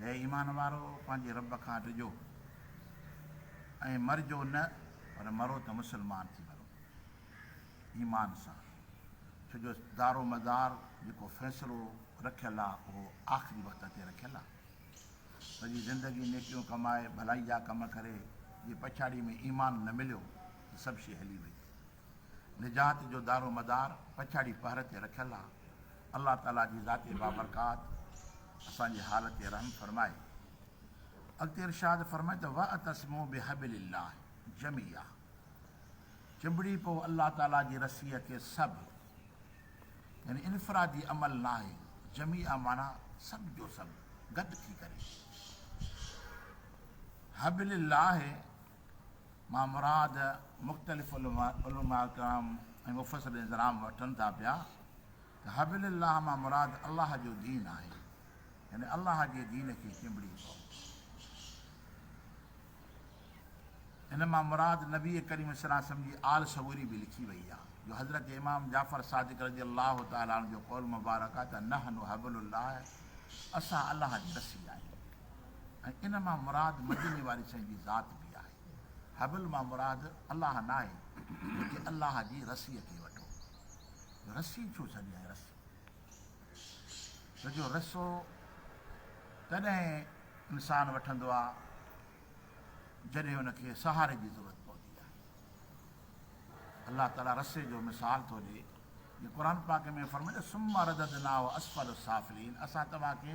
اي ايمان وارؤ! پنهنجي رب کان ڊڄو ۽ مرجو نه پر مرو ته مسلمان ٿي مرو، ايمان سان، ڇو جو دارومدار جيڪو فيصلو رکيل آ اهو آخري وقت تي رکيل آ. سڄي زندگي نيڪيون ڪمائي، ڀلائي جا ڪم ڪري، جي پڇاڙي ۾ ايمان نه مليو ته سڀ شيء هلي وئي. نجات جو دارومدار پڇاڙي پهر تي رکيل آ. الله تعالي جي ذات بابرڪات اسان جي حال تي رحم فرمائي. اڳتي ارشاد فرمائي ته واعتصموا بحبل الله جميعا چنبڙي پئو الله تعالي جي رسيء کي سڀ يعني انفرادي عمل ناهي جميعا معنيٰ سڀ جو سڀ گڏ ٿي ڪري حبل الله مان مراد مختلف علماء ڪرام ۽ مفسرين ڪرام وٺن ٿا پيا ته حبل الله مان مراد الله جو دين آهي يعني الله جي دين کي چنبڙي پئو ان مان مراد نبي ڪريم صلي الله علیه وسلم جي آل صبوري به لکي وئي آهي جو حضرت امام جعفر صادق رضي الله تعالٰي جو قول مبارڪ آهي ته نحن حبل الله اسان الله جي رسي آهيون ۽ ان مان مراد مديني واري سائين جي ذات به آهي. حبل مان مراد الله ناهي بلڪه الله جي رسيء کي وٺو. جو رسي ڇو سڏيائين رسي؟ ته جو رسو تڏهن انسان وٺندو آهي جڏهن ان کي سهاري جي ضرورت پوندي آهي. الله تعالي رسي جو مثال ٿو ڏي جي قرآن پاڪ ۾ فرمائي ٿو ثم رددناه اسفل السافلين اسان توهان کي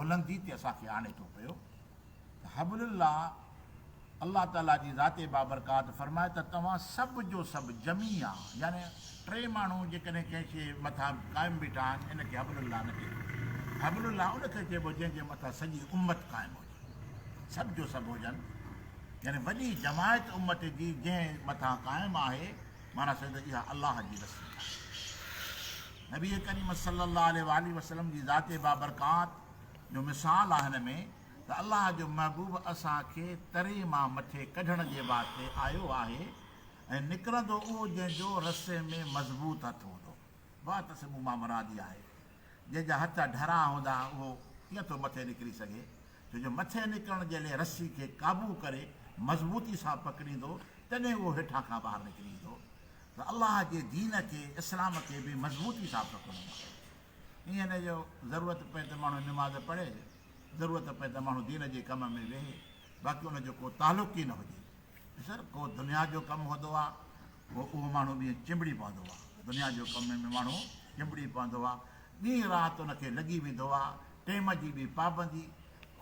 بلندي تي اسان کي آڻي ٿو پيو ته حبل الله الله تعالي جي ذات بابرڪات فرمائي ته توهان سڀ جو سڀ جميع يعني ٽي ماڻهو جيڪڏهن ڪنهن شيء مٿان قائم بيٺا آهن ان کي حبل الله نه چئبو حبل الله ان کي چئبو جنهن جي مٿان سڄي امت قائم هجي سڀ جو سڀ هجن يعني وڏي جماعت امت جي جنهن مٿان قائم آهي مانا سيد اها الله جي رسي آهي نبي ڪريم صلّي اللّٰه عليه واٰله وسلّم جي ذات بابرڪات جو مثال آ هن ۾ ته الله جو محبوب اسان کي تري مان مٿي ڪڍڻ جي واسطي آيو آهي ۽ نڪرندو اهو جنهن جو رسي ۾ مضبوط هٿ هوندو واعتصموا مان مراد اها آهي جنهن جا هٿ ڍرا هوندا اهو ڪيئن ٿو مٿي نڪري سگهي ڇو جو مٿي نڪرڻ جي لئه رسي کي قابو ڪري مضبوطي سان پڪڙيندو تڏهن اهو هيٺان کان ٻاهر نڪري ايندو ته الله جي دين کي، اسلام کي، به مضبوطي سان پکڙڻو آهي. ايئن نه جو ضرورت پئي ته ماڻهو نماز پڙهي، ضرورت پئي ته ماڻهو دين جي ڪم ۾ ويهي، باقي ان جو ڪو تعلق ئي نه هجي. ڏسر ڪو دنيا جو ڪم هوندو آهي، پوء اهو ماڻهو ڏينهن چنبڙي پوندو آهي. دنيا جو ڪم ۾ ماڻهو چنبڙي پوندو آهي. ڏينهن رات ان کي لڳي ويندو آهي. ٽيم جي به پابندي،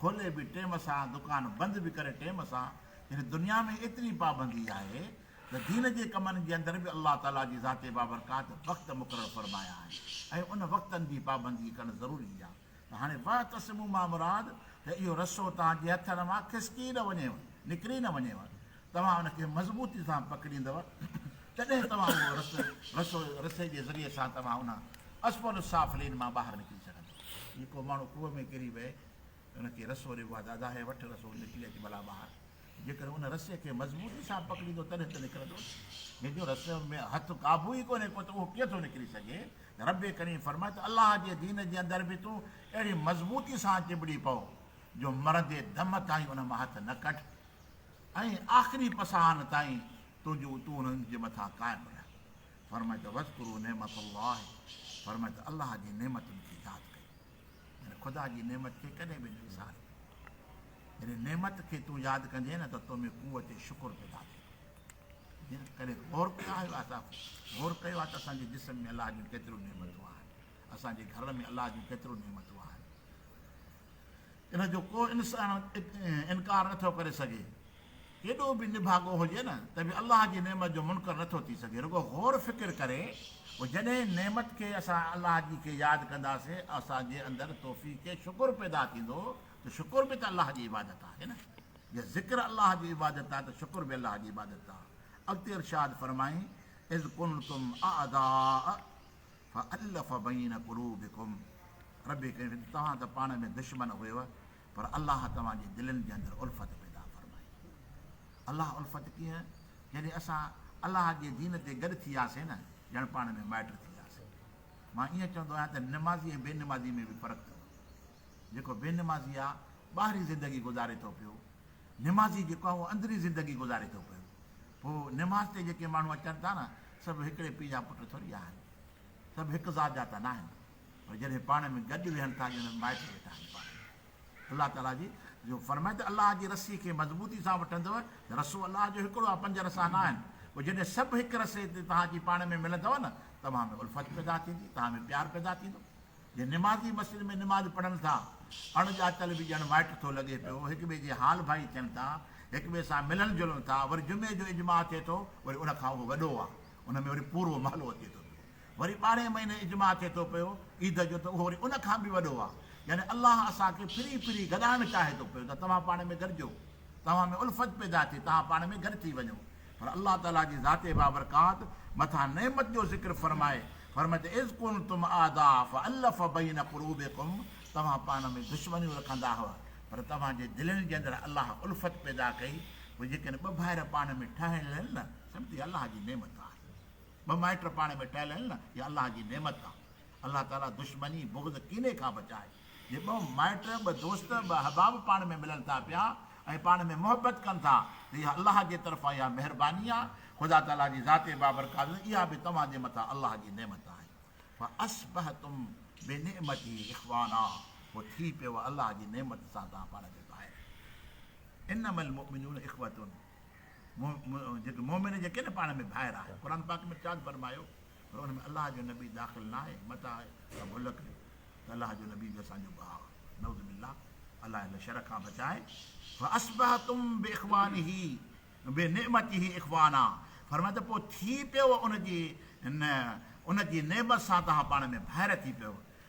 کولي به ٽيم سان، دڪان بند به ڪري ٽيم سان. يعني دنيا ۾ ايتري پابندي آهي. ته دين جي ڪمن جي اندر به الله تعالي جي ذات بابرڪات وقت مقرر فرمايا آهن ۽ ان وقتن جي پابندي ڪرڻ ضروري هي ته هاڻي واعتصموا مان مراد ته اهو رسو توهان جي هٿن مان کسڪي نه وڃيو نڪري نه وڃيو توهان ان کي مضبوطي سان پڪڙيندؤ تڏهن توهان اهو رسو رسو رسي جي ذريعي سان توهان ان اسفل السافلين مان ٻاهر نڪري سگهندؤ. جيڪو ماڻهو کوهه ۾ ڪري وهي ته ان کي رسو ريبو آهي ته ادا هي وٺ رسو نڪري اچ ڀلا ٻاهر. جيڪڏهن ان رسي کي مضبوطي سان پڪڙيندو تڏهن ته نڪرندو، جنهن جو رسي ۾ هٿ قابو ئي ڪونهي ڪو ته اهو ڪيئن ٿو نڪري سگهي؟ ربّ ڪريم فرمائي ٿو، الله جي دين جي اندر به تون اهڙي مضبوطي سان چنبڙي پو، جو مرندي دم تائين ان مان هٿ نه ڪڍ ۽ آخري پساهن تائين تنهنجو تون انهن جي مٿان قائم رهه. فرمائي ٿو، واذڪروا نعمت الله فرمائي ٿو، الله جي نعمتن کي ياد ڪيو. يعني خدا جي نعمت کي ڪڏهن به نه وساري. جڏهن نعمت کي تون ياد ڪندين نه ته تو ۾ قوت شڪر پيدا ٿيندي. ڪڏهن غور ڪيو آهي اسان غور ڪيو آهي ته اسان جي جسم ۾ الله جون ڪيتريون نعمتون آهن. اسان جي گهر ۾ الله جون ڪيتريون نعمتون آهن. ان جو ڪو انسان انڪار نٿو ڪري سگهي. ڪيڏو به نڀاڳو هجي نه ته به الله جي نعمت جو منڪر نه ٿو ٿي سگهي رڳو غور فڪر ڪري پوء جڏهن نعمت کي اسان الله جي کي ياد ڪنداسين اسان جي اندر توفيق شڪر پيدا ٿيندو ته شڪر به ته الله جي عبادت آهي نه جي ذڪر الله جي عبادت آهي ته شڪر به الله جي عبادت آهي اڳتي ارشاد فرمائين اذ ڪنتم اعداء فالف بين قلوبڪم ربي ڪريم توهان ته پاڻ ۾ دشمن هيو پر الله توهان جي دلين جي اندر الفت پيدا فرمائي. الله الفت ڪيئن؟ جڏهن اسان الله جي دين تي گڏ ٿي وياسين نه ڄڻ پاڻ ۾ مائٽ ٿي وياسين. مان ائين چوندو آهيان ته نمازي ۽ بي نمازي ۾ به فرق اٿو. جيڪو بي نمازي آهي ٻاهرين زندگي گذاري ٿو پيو. نمازي جيڪو آهي اهو اندرين زندگي گذاري ٿو پيو. پوء نماز تي جيڪي ماڻهو اچن ٿا نه سڀ هڪڙي پيء جا پٽ ٿوري آهن. سڀ هڪ ذات جا ته ناهن. پر جڏهن پاڻ ۾ گڏ ويهن ٿا ڄڻ مائٽ ويٺا آهن پاڻ ۾ الله تعالي جي جو فرمائي ته الله جي رسي کي مضبوطي سان وٺندو ته رسو الله جو هڪڙو آهي پنج رسا نه آهن پوء جڏهن سڀ هڪ رسي تي توهان جي پاڻ ۾ ملندو نه توهان ۾ الفت پيدا ٿيندي توهان ۾ پيار پيدا ٿيندو جي نمازي مسجد ۾ نماز پڙهن ٿا اڻ ڄاتل به ڄڻ مائٽ ٿو لڳي پيو هڪ ٻئي جي حال ڀائي ٿين ٿا هڪ ٻئي سان ملن جلن ٿا وري جمعي جو اجماع ٿئي ٿو وري ان کان اهو وڏو آهي ان ۾ وري پورو محلو اچي ٿو وري ٻارهين مهيني اجماع ٿئي ٿو پيو عيد جو ته اهو وري ان کان به وڏو آهي. يعني الله اسان کي ڦري ڦري گڏائڻ چاهي ٿو پيو ته توهان پاڻ ۾ گڏجو، توهان ۾ الفت پيدا ٿئي، توهان پاڻ ۾ گڏ ٿي وڃو. پر الله تعاليٰ جي ذات بابرڪات مٿان نعمت جو ذڪر فرمائي، فرمائي ته اذ ڪنتم اعداء فالف بين قلوبڪم توهان پاڻ ۾ دشمنيون رکندا هئا، پر توهان جي دلين جي اندر الله الفت پيدا ڪئي، پوء جيڪڏهن ٻه ڀائر پاڻ ۾ ٺهيل آهن نه، سمجهه ته اها الله جي نعمت آهي. ٻه مائٽ پاڻ ۾ ٽهيل آهن نه اها الله جي نعمت آ الله تعالي دشمني بغض ڪيني کان بچائي جي ٻه مائٽ ٻه دوست ٻه احباب پاڻ ۾ ملن ٿا پيا ۽ پاڻ ۾ محبت ڪن ٿا ته اها الله جي طرفان اها مهرباني آ خدا تعالي جي ذات بابرڪات اها به توهان جي مٿان الله جي نعمت آهي فاصبحتم بنعمته اخوانا پوء ٿي پيو الله جي نعمت سان توهان پاڻ کي ڀائر انما المؤمنون اخوة جيڪي مؤمن جيڪي نه پاڻ ۾ ڀائر آهن قرآن پاڪ ۾ ارشاد فرمايو پر ان ۾ الله جو نبي داخل نه آهي متان ته ڀل ڪريو ته الله جو نبي به اسان جو ڀاء نعوذ بالله الله هن شر کان بچائي فاصبحتم باخوانه بنعمته اخوانا فرمائي ته پوء ٿي پيو ان جي ان جي نعمت سان توهان پاڻ ۾ ڀائر ٿي پيو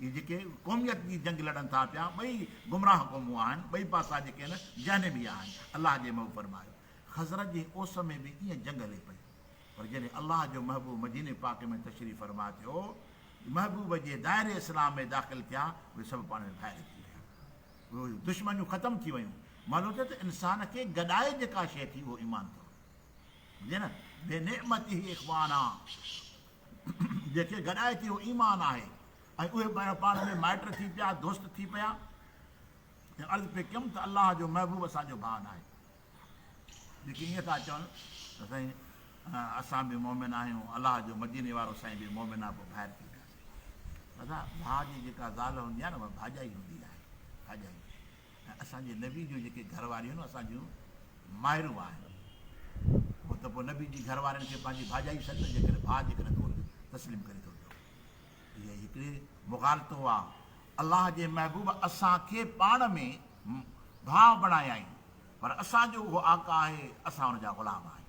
اهي جيڪي قوميت جي جنگ لڙن ٿا پيا ٻئي گمراهه قومون آهن ٻئي پاسا جيڪي نه جهنم ئي آهن الله جي محبوب فرمايو خزرج جي اوس ۾ به ائين جنگ هلي پئي پر جڏهن الله جو محبوب مديني پاڪ ۾ تشريف فرما ٿيو محبوب جي دائري اسلام ۾ داخل ٿيا اهي سڀ پاڻ ۾ ڀائر ٿي ويا اهي دشمنيون ختم ٿي ويون معلوم ٿيو ته انسان کي گڏائي جيڪا شيء ٿي اهو ايمان اٿو ٻڌي نه بي نعمته اخوانا جنهن کي گڏائي ٿي اهو ايمان آهي ۽ اهي ٻئي پاڻ ۾ مائٽ ٿي پيا، دوست ٿي پيا ۽ عرض پئي ڪيم ته الله جو محبوب اسان جو ڀاء ناهي. جيڪي ائين ٿا چون ته سائين اسان به مؤمن آهيون، الله جو مديني وارو سائين به مؤمن آهي پوء ڀائر ڪيئن ٿياسين؟ ڀاء جي جيڪا زال هوندي آهي نه اها ڀاڄائي هوندي آهي، ڀاڄائي. ۽ اسان جي نبي جون جيڪي گهر واريون نه اسان جون مائرون آهن اهو ته پوء نبي جي گهر وارين کي پنهنجي ڀاڄائي ٿين نه جيڪڏهن ڀاء جيڪڏهن تو کي تسليم ڪري ٿو ته اها ئي هڪڙي مغالطو آهي الله جي محبوب اسان کي پاڻ ۾ ڀاء بڻايائين پر اسان جو اهو آقا آهي اسان ان جا غلام آهيون.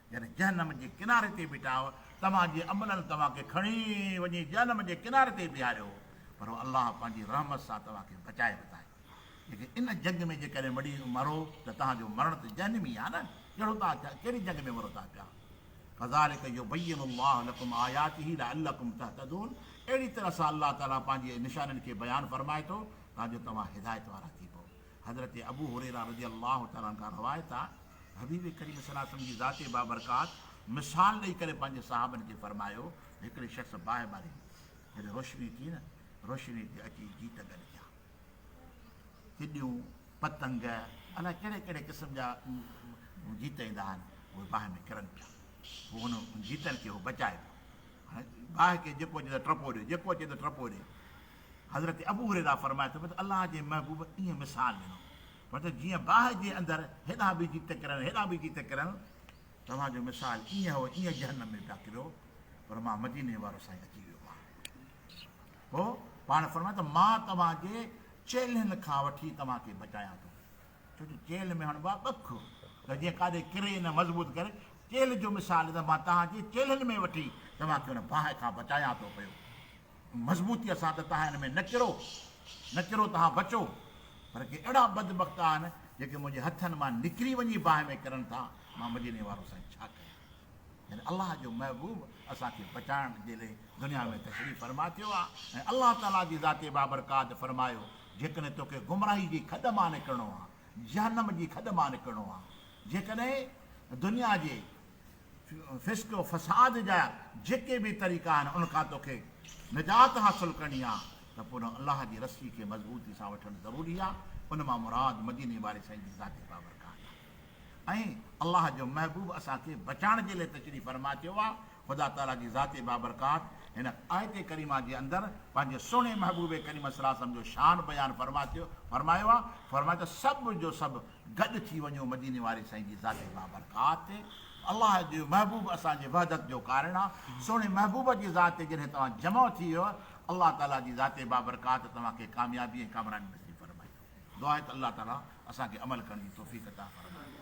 يعني جهنم جي ڪناري تي بيٺا آهيو، توهان جي عملن توهان کي کڻي وڃي جهنم جي ڪناري تي بيهاريو، پر الله پنهنجي رحمت سان توهان کي بچائي ورتائين. جيڪي ان جنگ ۾ جيڪڏهن مڙي مرو ته تهان جو مرڻ ته جهنم ئي آهي نه، ڪهڙو توهان ڪهڙي جنگ ۾ مرو ٿا پيا. ڪذالڪ يبين الله لڪم آياته لعلڪم تهتدون اهڙي طرح سان الله تعاليٰ پنهنجي نشانين کي بيان فرمائي ٿو تان جو توهان هدايت وارا ٿي پئو. حضرت ابو هريره رضي الله تعالٰي عنه کان روايت آ، حبيب ڪريم صلي الله عليه وسلم جي ذات بابرڪات مثال ڏئي ڪري پنهنجي صحابن کي فرمايو، هڪڙي شخص باهه ٻاري هو، جڏهن روشني ٿي نه، روشني تي اچي جيت گڏ ٿيا، چڏيون، پتنگ، الائي ڪهڙي ڪهڙي قسم جا جيت ايندا آهن، اهي باهه ۾ ڪرن پيا، پوء هن جيتن کي هو بچائي پيو، هاڻي باهه کي جيڪو اچي ته ٽپو ڏيو، جيڪو اچي ته ٽپو ڏي، حضرت ابو هريره فرمائي ٿو ته الله جي محبوب ائين مثال ڏنو فرمايو ته جيئن باهه جي اندر هيڏانهن به جيت ڪرڻ هيڏانهن به جيت ڪرڻ توهان جو مثال ائين هو ائين جهنم ۾ پيا ڪريو پر مان مديني وارو سائين اچي ويو مان پوء پاڻ فرمايو ته مان توهان جي چيلهن کان وٺي توهان کي بچايان ٿو ڇو جو چيلهه ۾ هڻبو آهي ٻک ته جيئن ڪاڏي ڪري نه مضبوط ڪري چيلهه جو مثال ته مان توهان جي چيلهن ۾ وٺي توهان کي ان باهه کان بچايان ٿو پيو مضبوطيء سان ته تهان هن ۾ نه ڪرو، نه ڪرو تهان بچو، پر ڪي اهڙا بدبخت آهن، جيڪي منهنجي هٿن مان نڪري وڃي باهه ۾ ڪرن ٿا، مان مديني وارو سائين ڇا ڪيان؟ يعني الله جو محبوب اسان کي بچائڻ جي لئه دنيا ۾ تشريف فرما ٿيو آهي ۽ الله تعاليٰ جي ذات بابرڪات فرمايو، جيڪڏهن توکي گمراهي جي کڏ مان نڪرڻو آهي، جهنم جي کڏ مان نڪرڻو آهي، جيڪڏهن دنيا جي. فسق و فساد جا جيڪي به طريقا آهن ان کان توکي نجات حاصل ڪرڻي آهي ته پوء ان الله جي رسي کي مضبوطي سان وٺڻ ضروري آهي ان مان مراد مديني واري سائين جي ذاتي بابرڪات آهي ۽ الله جو محبوب اسان کي بچائڻ جي لئي تشريف فرما ٿيو آهي خدا تعالي جي ذاتي بابرڪات هن آيت ڪريمه جي اندر پنهنجي سهڻي محبوب ڪريم صلعم جو شان بيان فرما ٿيو فرمايو آهي فرمايو ته سڀ جو سڀ گڏ ٿي وڃو مديني واري سائين جي ذات بابرڪات تي، الله جو محبوب اسان جي وحدت جو ڪارڻ آ، سهڻي محبوب جي ذات تي جڏهن توهان جمع ٿي ويئو، الله تعالي جي ذات بابرڪات توهان کي ڪاميابي ۽ ڪامراني نصيب فرمائيندو. دعا آهي ته الله تعالي اسان کي عمل ڪرڻ جي توفيق عطا فرمائي.